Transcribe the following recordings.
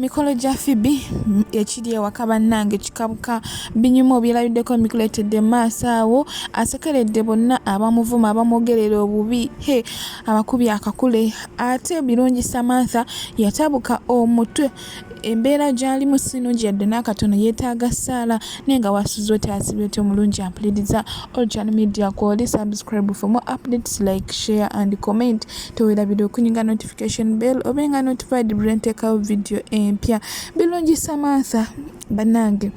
Mikolo gya Phoebe ekiri ewaka bannange kikabuka binyuma obyerabiddeko mikuleetedde maaso awo asekeredde bonna abamuvuma abamwogerera obubi he abakubye akakule ate birungi Samantha yatabuka omutwe embeera gy'alimu si nnungi yadde n'akatono yeetaaga ssaala naye nga wasuze oti asibye oti omulungi ampuliriza olcan media kwoli subscribe for more updates like share and comment tewerabira okunyiga notification bell obe nga notified buli lwenteekawo vidiyo empya birungi samantha banange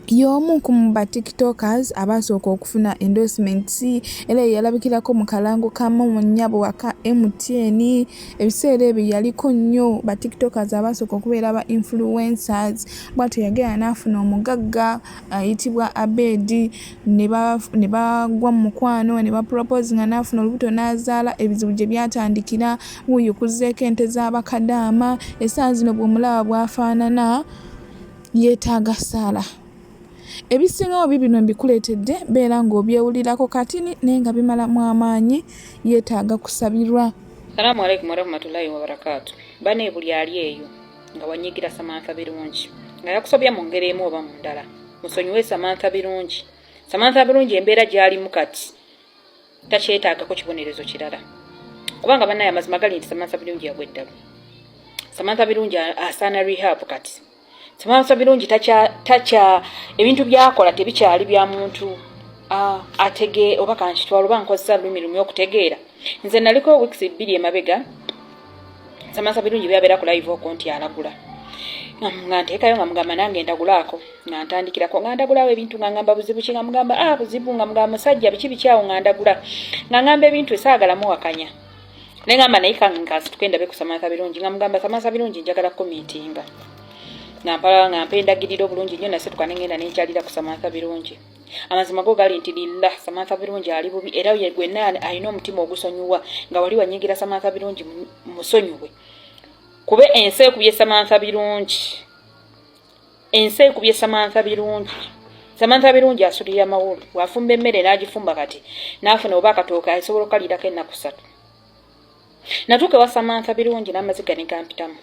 y'omu ku ba tiktokers abaasooka okufuna endorsements era yeyalabikirako mu kalango kamu mu nnyabo waka mtn ebiseera ebyo yaliko nnyo ba tiktokers abaasooka okubeera ba influencers bwatyo yagenda n'afuna omugagga ayitibwa abedi ne bagwa mu mukwano ne bapropoozinga n'afuna olubuto n'azaala ebizibu gye byatandikira wuuyo kuzzeeko ente z'abakadaama essaawa zino bw'omulaba bw'afaanana yeetaaga ssaala ebisingawo bibino mbikuleetedde beera ng'obyewulirako kati naye nga bimalamu amaanyi yeetaaga kusabirwa salaamu aleikum warahmatullahi wabarakaatu bane buli ali eyo nga wanyigira samantha birungi nga yakusobya mu ngeri emu oba mu ndala musonyiwe samantha birungi samantha birungi embeera gyalimu kati takyetaagako kibonerezo kirala kubanga banaye amazima gali nti samantha birungi yagwa eddalu samantha birungi asaana rehab kati samantha birungi takya ebintu byakola tebikyali bya muntu atege oba kankitwala oba nkozesa lulimi lumu okutegeera nze naliko weeks bbiri emabega samansa birungi byabeera ku live okwo nti alagula nga nteekayo nga mugamba nange ndagulaako nga ntandikirako nga ndagulawo ebintu nga ngamba buzibu ki nga mugamba a ah, buzibu nga mugamba musajja biki bikyawo nga ndagula nga ngamba ebintu esaagala muwakanya naye ngamba naye kankasituke ndabe ku samansa birungi nga mugamba samansa birungi njagala kumiitinga nga mpala nga mpa endagiriro obulungi nnyo nasituka ne ngenda nenkyalira ku samansa birungi amazima go gali nti lillah samantha birungi ali bubi era ye gwe nani alina omutima ogusonyiwa nga wali wanyigira samantha birungi musonyiwe kube ensi ekubye samantha birungi ensi ekubye samantha birungi samantha birungi asulira amawulu wafumba emmere n'agifumba kati n'afuna oba akatooka asobola okukalirako ennaku satu natuuka ewa samantha birungi n'amaziga negampitamu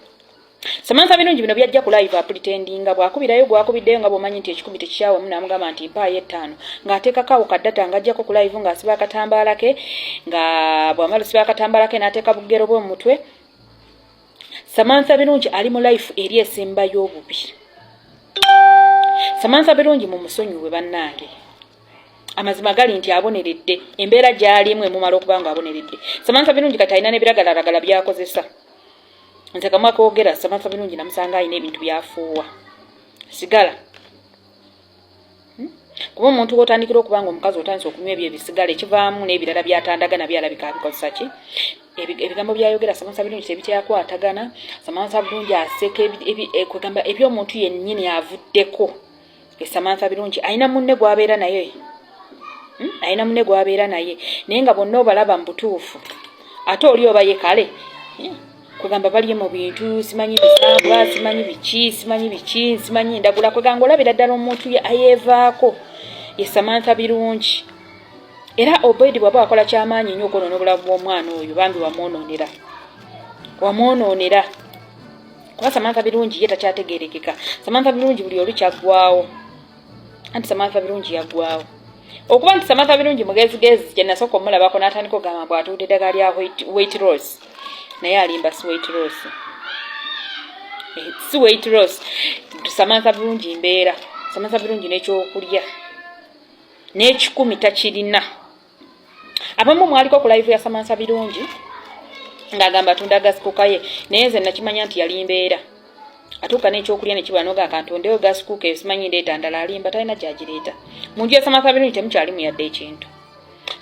Samantha Birungi bino byajja ku live apulitendinga bw'akubirayo gw'akubiddeyo nga bw'omanyi nti ekikumi tekikyawamu n'amugamba nti mpaayo ettaano ng'ateekako awo ka data ng'ajjako ku live ng'asiba akatambaala ke nga bw'amala osiba akatambaala ke n'ateeka bugero bwe mu mutwe Samantha Birungi ali mu life eri esemba y'obubi Samantha Birungi mu musonyiwe bannange amazima gali nti aboneredde embeera gy'alimu emumala okuba nga aboneredde Samantha Birungi kati alina n'ebiragalaragala by'akozesa nze kamwa kogera samantha birungi namusanga alina ebintu byafuuwa sigala hmm? kuba omuntu wotandikira okuba nga omukazi otandisa okunywa ebyo ebisigala ekivaamu n'ebirala byatandaga nabyo alabika abikozesa ki ebigambo byayogera samantha birungi tebityakwatagana samantha birungi aseka eh, kwegamba ebyomuntu yennyini avuddeko e samantha birungi alina munne gwabeera naye hmm? alina munne gwabeera naye naye nga bonna obalaba mu butuufu ate oli oba ye kale hmm? kwegamba baliye mu bintu simanyi bisambwa simanyi biki simanyi biki simanyi ndagula kwegamba olabira ddala omuntu ye ayeevaako ye samantha birungi era obedi bwaba wakola kyamaanyi nnyo okwonoona obulamu bw'omwana oyo bambi wamwonoonera wamwonoonera kuba samantha birungi ye takyategerekeka samantha birungi buli olu kyaggwawo anti samantha birungi yaggwawo okuba nti samantha birungi mugezigezi kyenasooka omulabako n'atandika ogamba bw atuudde eddagala lya wait rose naye alimba si wait rose eh, si wait rose samantha birungi mbeera samantha birungi n'ekyokulya n'ekikumi takirina abamu mwaliko ku live ya samansa birungi ng'agamba atunda agasikuka ye naye nze nakimanya nti yali mbeera atuuka n'ekyokulya nekibula noga akantondeyo gasikuka eyo simanyi ndeeta ndala alimba talina gyagireeta mu nju ya samansa birungi temukyalimu yadde ekintu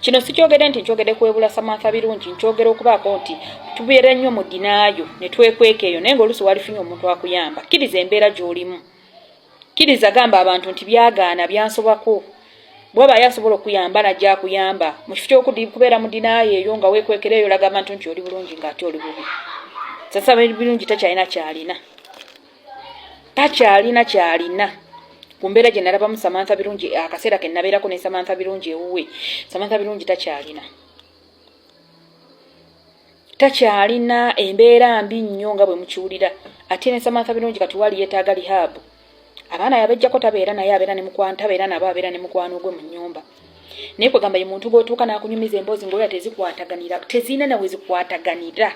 kino sikyogede nti nkyogede kwebula samansa birungi nkyogera okubaako nti tubeera nnyo mu dinaayo ne twekweka eyo naye ng'oluusi walifunye omuntu akuyamba kkiriza embeera gy'olimu kkiriza gamba abantu nti byagaana byansobako bwaba aye asobola okuyamba najja akuyamba mu kifo kyokubeera mu dinaayo eyo nga wekwekera eyo olaga abantu nti oli bulungi nga ate oli bubi sasaba ebirungi takyalina kyalina takyalina kyalina ku mbeera gye nalabamu samantha birungi akaseera ke nabeerako ne samantha birungi ewuwe samantha birungi takyalina takyalina embeera mbi nnyo nga bwe mukiwulira ate ne samantha birungi kati wali yeetaaga lihaabu abaana yabejjako tabeera naye abeera ne mukwano tabeera nabo abeera ne mukwano gwe mu nnyumba naye kwegamba ye muntu gwotuuka n'akunyumiza emboozi ngaoya tezikwataganira tezirina nawe zikwataganira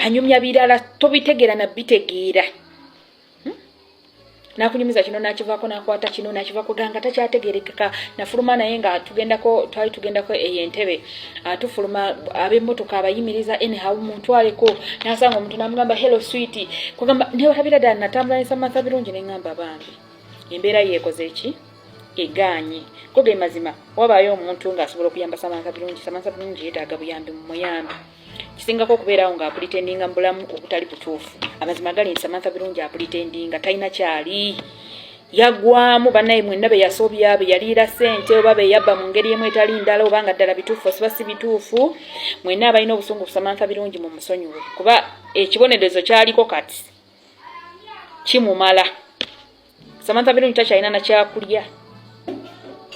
anyumya birala tobitegeera nabitegeera hmm? nakunyumiza kino nakivako nakwata kino nakivako ganga takyategerekeka nafuluma naye nga tugendako twali tugendako eyo entebe ah, tufuluma abemotoka abayimiriza anyhow muntwaleko nasanga omuntu namugamba hello switi kugamba newatabira ddala natambula nesamantha birungi nengamba bambi embeera yeekoze eki egaanye ko ge mazima wabaayo omuntu ng'asobola okuyamba samantha birungi samantha birungi yeetaaga buyambi mumuyambi kisingako okubeerawo nga apulitendinga mubulamu obutali butuufu amazima gali nti samantha birungi apulitendinga talina kyali yagwamu banaye mwenna beyasobya beyaliira sente oba beyabba mu ngeri emu etali ndala oba nga ddala bituufu osiba si bituufu mwenna abalina obusungu kusamantha birungi mu musonyiwe kuba ekibonerezo kyaliko kati kimumala Samantha Birungi takyalina na kyakulya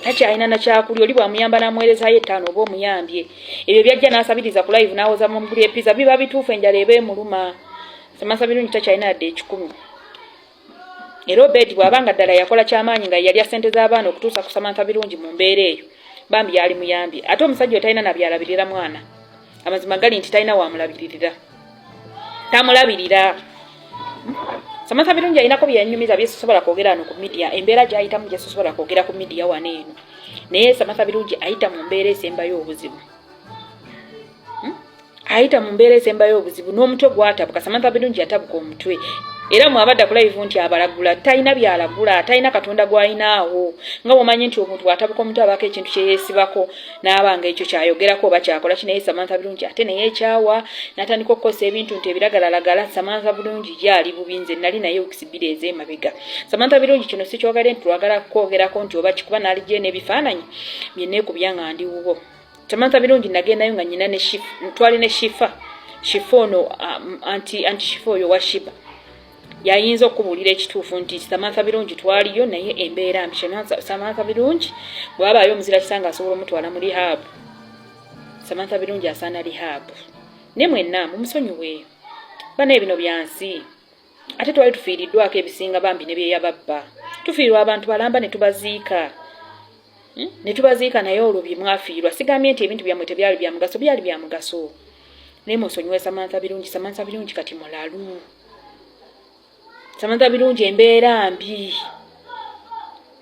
takyalina na kyakulya oli bwamuyamba n'amuweerezayo ettaano oba omuyambye ebyo byajja n'asabiriza ku live n'awoza mu mugulu epiza biba bituufu enjala eba emuluma Samantha Birungi takyalina yadde ekikumi era obedi bw'aba nga ddala yakola kyamaanyi nga yalya ssente z'abaana okutuusa ku Samantha Birungi mu mbeera eyo bambi yali muyambye ate omusajja otalina nabyalabirira mwana amazima gali nti talina wamulabiririra tamulabirira samantha birungi alinako byeyanyumiza byesosobola kwogera ano ku midiya embeera gyayitamu gyesosobola kwogera ku midiya wano eno naye samantha birungi ayita mu mbeera esembayo obuzibu hmm? ayita mu mbeera esembayo obuzibu n'omutwe gwatabuka samantha birungi yatabuka omutwe era mwabadda kulayivu nti abalagula talina byalagula talina katonda gw'alinaawo nga bwomanyi nti omuntu atabuka omuntu abaako ekintu kyeyeesibako n'abanga ekyo kyayogerako oba kyakola kinaye samantha bulungi ate naye ekyawa natandika okukozesa ebintu nti ebiragalalagala samantha bulungi yaali bubi nze nali naye okisibira ez'emabega samantha bulungi kino sikyogade nti twagala kukwogerako nti oba kikuba naalijje n'ebifaananyi bye neekubya nga ndi wubo samantha bulungi nagendayo nga nyina ne twali ne shifa shifa ono um, anti shifa oyo washiba yayinza okukubuulira ekituufu nti samantha birungi twaliyo naye embeera mbi samantha birungi bwabaayo omuzira kisanga asobola omutwala mu rihaabu samantha birungi asaana rihaabu ne mwenna mumusonyiwe bana ebino byansi ate twali tufiiriddwako ebisinga bambi ne byeyababba tufiirwa abantu balamba ne tubaziika hmm? ne tubaziika naye olwo bye mwafiirwa sigambye nti ebintu byammwe tebyali bya mugaso byali bya mugaso naye musonyiwe samantha birungi samantha birungi kati mulalu samantha birungi embeera mbi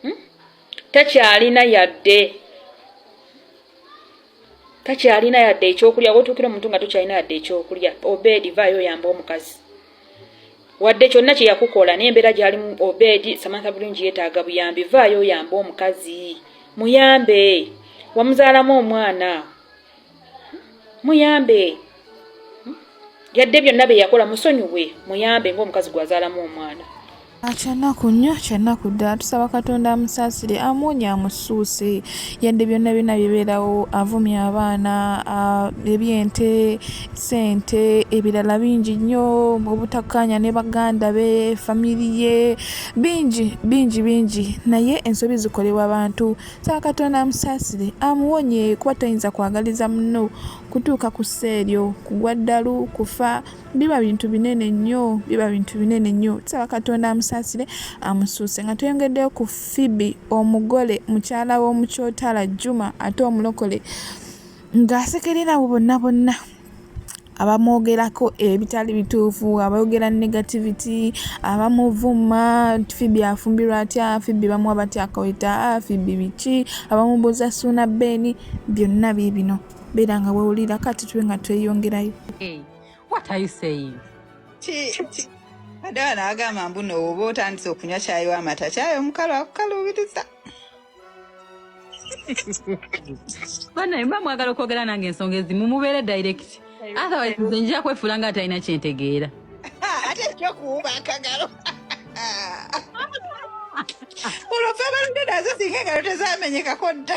hmm? takyalina yadde takyalina yadde ekyokulya wotuukira omuntu nga tokyalina yadde ekyokulya obedi vaayo oyamba omukazi wadde kyonna kye yakukola naye embeera gyalimu obedi samantha bulungi yeetaaga buyambi vaayo oyambe omukazi muyambe wamuzaalamu omwana muyambe yadde byonna bye yakola musonyiwe muyambe ng'omukazi gwazaalamu omwana Kyannaku nnyo kyannaku ddala tusaba katonda amusaasire amuwonye amusuuse yadde byonna byonna bibeerawo avumya abaana ebyente sente ebirala bingi nnyo obutakkaanya ne baganda be famiri ye bingi bingi bingi naye ensobi zikolebwa bantu saba katonda amusaasire amuwonye kuba toyinza kwagaliza muno kutuuka ku sseeryo kugwa ddalu kufa biba bintu binene nnyo biba bintu binene nnyo tusaba katonda amusaasire amusuuse nga tweyongeddeyo ku fibi omugole mukyala w'omukyotala juma ate omulokole ng'asekerera abo bonna bonna abamwogerako ebitali eh, bituufu abayogera negativity abamuvuma fibi afumbirwa atya fibi bamuwa batya akaweta fibi biki abamubuuza suuna beeni byonna biibino beera nga wewulira kati tube nga tweyongerayo hey. Eh, What are you saying? Adawa naagamba mbu nooba otandise okunywa kyayi w'amata kyayi omukalu akukaluubiriza. Banaye mba mwagala okwogera nange ensonga ezimu mubeere direct. Otherwise nze njija kwefuula nga atalina kye ntegeera. Ate ekyokuwuba akagalo. Olwo ffe abaludde nazo singa engalo tezamenyekako dda.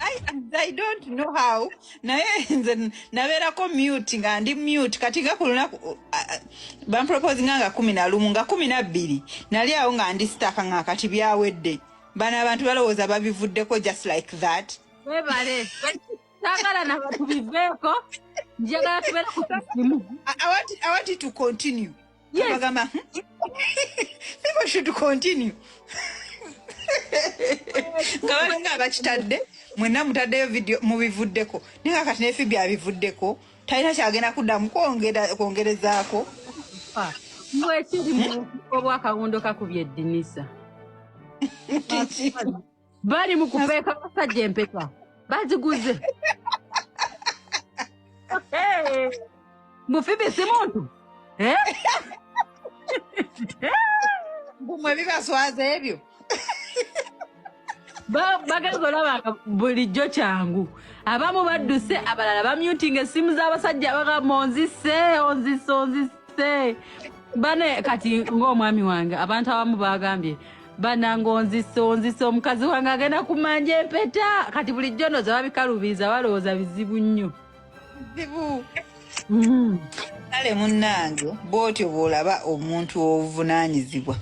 I, I don't know how naye nze nabeerako mute nga ndi mute kati nga ku lunaku uh, uh, bamproposinga nga kumi na lumu nga kumi na bbiri nali awo nga ndi sitaka nga kati byawedde bano abantu balowooza babivuddeko just like that webale sagala nabatubiveeko njagala tubere ku kisimu i want it to continue Yes. Abagamba, hmm? People should continue. nga balinga abakitadde mwenna mutaddeyo vidio mubivuddeko naye nga kati nefi byabivuddeko talina kyagenda kuddamu kwongerezaako mwekiri obwakawundo kakubye eddinisa bali mu kupeeka abasajja empeta baziguze mufibi si muntu eh? gumwe bibaswaza ebyo bagenda olaba nga bulijjo kyangu abamu badduse abalala bamyutinga essimu z'abasajja bagamba onzise onzise onzise bane kati ng'omwami wange abantu abamu bagambye banange onzisa onzisa omukazi wange agenda kumanja empeta kati bulijjo noza babikalubiiza balowooza bizibu nnyo bizibu mm. kale munnange bwotyo bwolaba omuntu obuvunaanyizibwa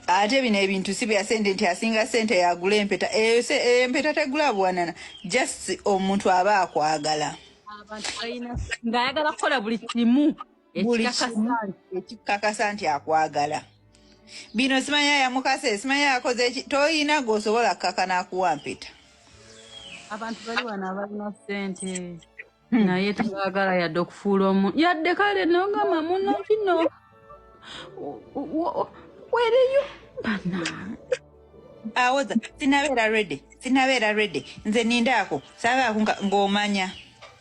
ate bino ebintu si bya sente nti asinga sente yagula empeta eyo eh, empeta eh, tegula buwanana just omuntu aba akwagala ng'ayagala kukola buli kimu ekikakasa nti akwagala bino simanya yamukasa simanya yakoze eki toyina gwosobola kukaka nakuwa mpeta abantu bali wano abalina sente hmm. naye tebagala yadde okufuula omu yadde kale nogamba muno kino wereyo bana awoza sinabeera redi sinabeera redi nze nindaako sabaako ng'omanya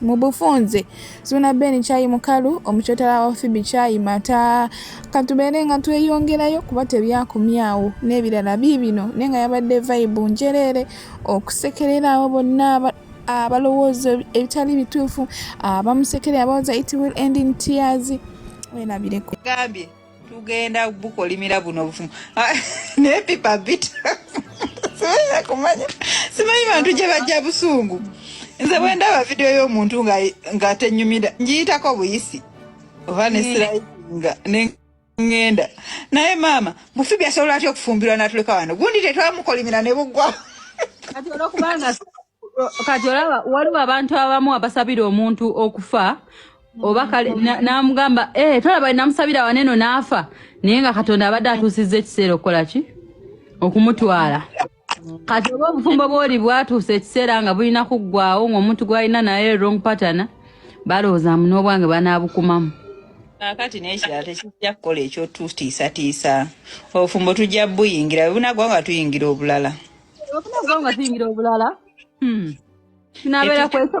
Mu bufunze Suuna Ben Kyayi Mukalu, omukyotala wa Phoebe Kyayi Mata, katubeere nga tweyongerayo kuba tebyakomyawo n'ebirala biibino naye nga yabadde vayibu njereere okusekerera abo bonna abalowooza ebitali bituufu abamusekerera abawoza it will end in tears werabireko gambye tugenda bukolimira buno obufumu ah, naye pipa bita simanyi kumanya simanyi bantu gye bajja busungu nze bwe ndaba vidiyo y'omuntu nga tenyumira ngiyitako buyisi oba nesirainga nengenda naye maama mufibi asobola atya okufumbirwa natuleka wano gundi tetwamukolimira ne bugwa kati olaba waliwo abantu abamu abasabira omuntu okufa oba kale n'amugamba eh, tolaba namusabira waneno n'afa naye nga katonda abadde atuusizza ekiseera okukola ki okumutwala kati oba obufumbo bwoli bwatuusa ekiseera nga bulina kuggwawo ng'omuntu gwalina naye wrong patana balowooza mu n'obwange banaabukumamu kakati nekirala tekijja kukola ekyotutiisatiisa obufumbo tujja buyingira bwebunagwa nga tuyingira obulala obunagwa nga tuyingira obulala hmm. kinabeera kwekyo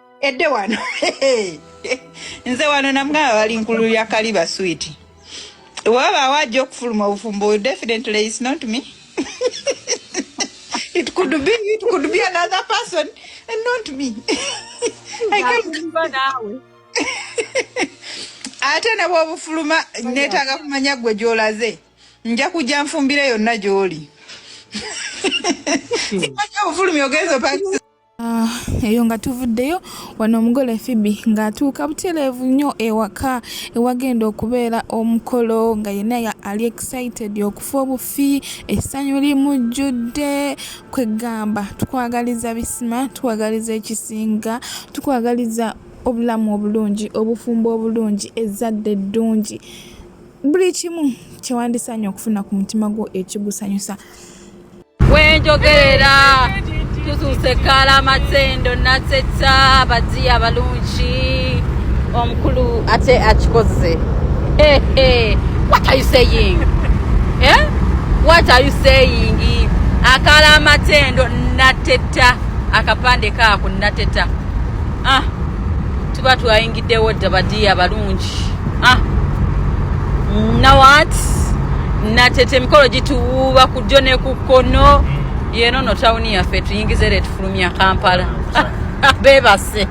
edde wano nze wano namwe abali nkulu ya kaliba sweet wabaawo ajja okufuluma obufumbo definitely is not me it could be it could be another person and not me ate ne bwobufuluma netaaga kumanya gwe gyolaze nja kujja nfumbire yonna gyoli obufulumi ogenza Ah, eyo nga tuvuddeyo wano omugole fibi ng'atuuka butereevu nnyo ewaka ewagenda okubeera omukolo nga yenna ali excited okufa obufi essanyu limujjudde kwegamba tukwagaliza bisima tukwagaliza ekisinga tukwagaliza obulamu obulungi obufumbo obulungi ezzadde eddungi buli kimu kyewandisanye okufuna ku mutima gwo ekigusanyusa wenjogerera tutuuse kalamatsendo natseta abadzi abalungi omukulu ate akikoze hey, hey. what are you saying eh? what are you saying akala amatendo nateta akapande kaako nateta ah, tuba twayingiddewo dda badiya balungi ah, nawat nateta emikolo gituwuuba ku jjo ne ku kkono yeeno no tawuni yaffe tuyingiza era etufulumya kampala bebase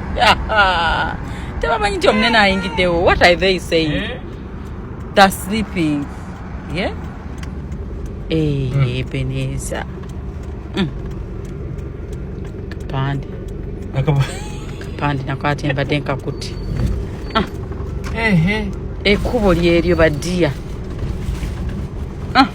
tebamanyi nti omunene ayingiddewo what are they saying eh? the sleeping yeah? Eh, hmm. ebeneza hmm. kapande kapande nakwate mbadde nkakuti ah. ekkubo lyeryo badiya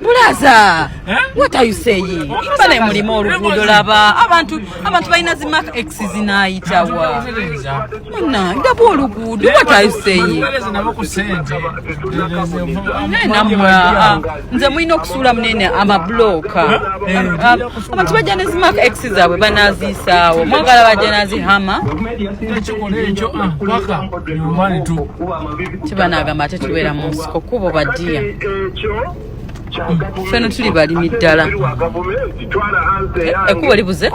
bulaza what are you saying imba naye mulima oluguudo laba abantu abantu balina zi mark x zinaayitawa na ndaba oluguudo what are you saying namwe nze mulina okusuula munene amabulooka abantu bajja ne zi mark x zaabwe banaziisaawo mwagala bajja nazihama ekikola ekyo paka nyumbani tu kiba nagamba ate tubeera mu nsiko kubo badiya feno tuli balimi ddala ekubo libuze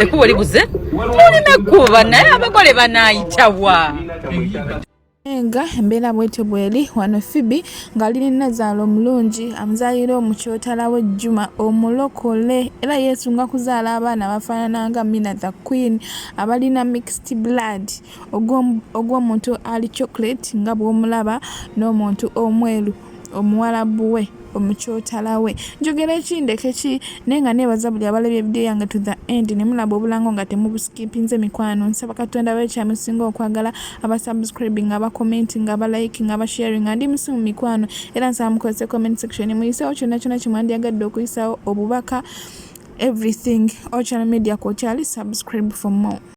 ekubo libuze tulina ekuba naye abagole banayitawa enga embeera bwetyo bweri wano fibi ng'ali ne nazaala omulungi amuzaalira omukyotala w'ejjuma omulokole era yeesunga kuzaala abaana bafaanana nga mina the queen abalina mixed blood ogw'omuntu ali chocolate nga bw'omulaba n'omuntu omweru omuwalabu we omukyotala we njogera eki ndeke ki naye nga neebaza buli abalabye ebidiyo yange to the end ne mulaba obulango nga temubusikipinze mikwano nsaba katonda bayo kyamusinga okwagala abasubscribing abacommenting abaliking abasharing andi musimu mikwano era nsaba mukozese comment section muyisewo kyonna kyonna kyemwandyagadde okuyisawo obubaka everything ochana media kwokyali subscribe for more